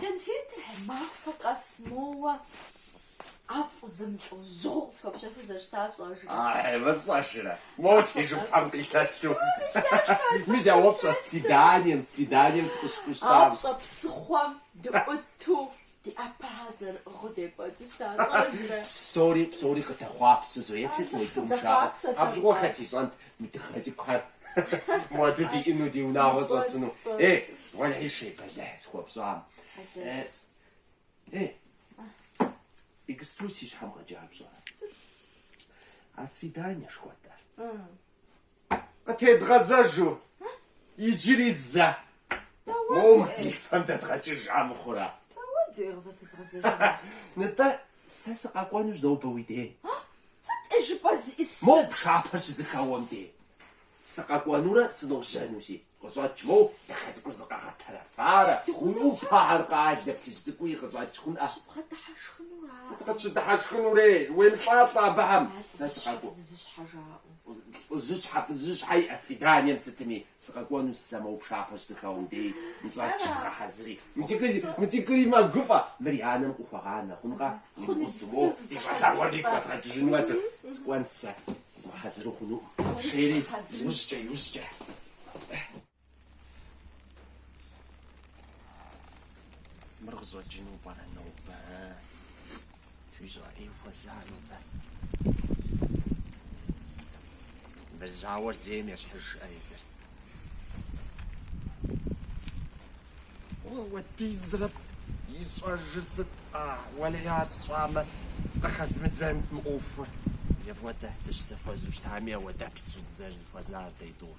Кӏэнфетхэр махуэ къэс моуэ ӏэфӏ зэмылӏэужьыгъуэу къысхуэпщэхуу зэрыщыта пщӏэжрэ? Ай, мы сщӏэжрэ? Моуэ си жыпхэм къилъэлъу. Мис а упщӏэ свиданием, свиданием сыкъыщыхущтам. А пщӏэ псыхъуэм дыӏуту ди ӏэпэхэр зэрыӏыгъыу декӏуэкӏыу щыта пщӏэжрэ? Псори, псори къыдэхъуапсэу зэ еплъыт а тӏум жаӏэу. Апщыгъуэ хэт ищӏэнт, Мы дыгъэ цӏыкӏухэр моду диӏэну, ди унагъуэ щӏэсыну. Ей, уэлэхьи шей бэлыхь схуэпщӏам. Ей, иджыпсту си щхьэм къэкӏар пщӏэрэ? А свиданиешхуэ диӏар. Къытедгъэзэжу, иджыри зэ. Моуэ ди фэм дэдгъэкӏыж щхьэ мыхъурэ? Дауэ дей къызэтедгъэзэжа? Нытӏэ, сэ сыкъэкӏуэнущ нобэ уи дей. Сыт ӏей жыпӏэр зищӏысыр? Моу пшапэр щызэхэуэм дей сыкъэкӏуэнурэ сыножьэнущи къыщӏэкӏ, моу дахэ цӏыкӏур зыкъэгъэтэрэфарэ, уи ӏупэхэр къэлэ плъыжь цӏыкӏуи къыщӏэкӏ хъунӏэ. Щыбгъэдыхьэшхыну ара. Сыт къытщыдыхьэшхынури, уемылӏалӏэ абыхэм. Ар лӏыжьыщхьэ-фызыжьыщхьэ жаӏэу. Лӏыжьыщхьэ-фызыжьыщхьэ иӏэ свиданием сытми Сыкъэкӏуэнущ сэ моу пшапэр щызэхэуэм дей, нщӏащ зыгъэхьэзыри. Мыдэ иджыри мэгуфӏэ, мыр и анэм къыхуэгъа нэхъункъэ? Уимыӏут, уо, ди щӏалэгъуэр дигу къэдгъэкӏыжын уэдыр. Сыкӏуэн сэ, сымыхьэзыру хъунукъым, жери иужькӏэ, иужькӏэ. Мыр къыщӏэкӏыну пӏэрэ нобэ? Фыщӏэӏей хуэза нобэ? Бэжьауэр зейм ещхьыж езыр. Апхуэдизрэ ищӏэжыр сыт? А, уэлей ар сщӏамэ, къыхэзмыдзэнт мы ӏуэхур. Зэпӏуэтэ, дыщызэхуэзу щытами ауэдэпс щыдзэр зыхуэзар, Тейдур.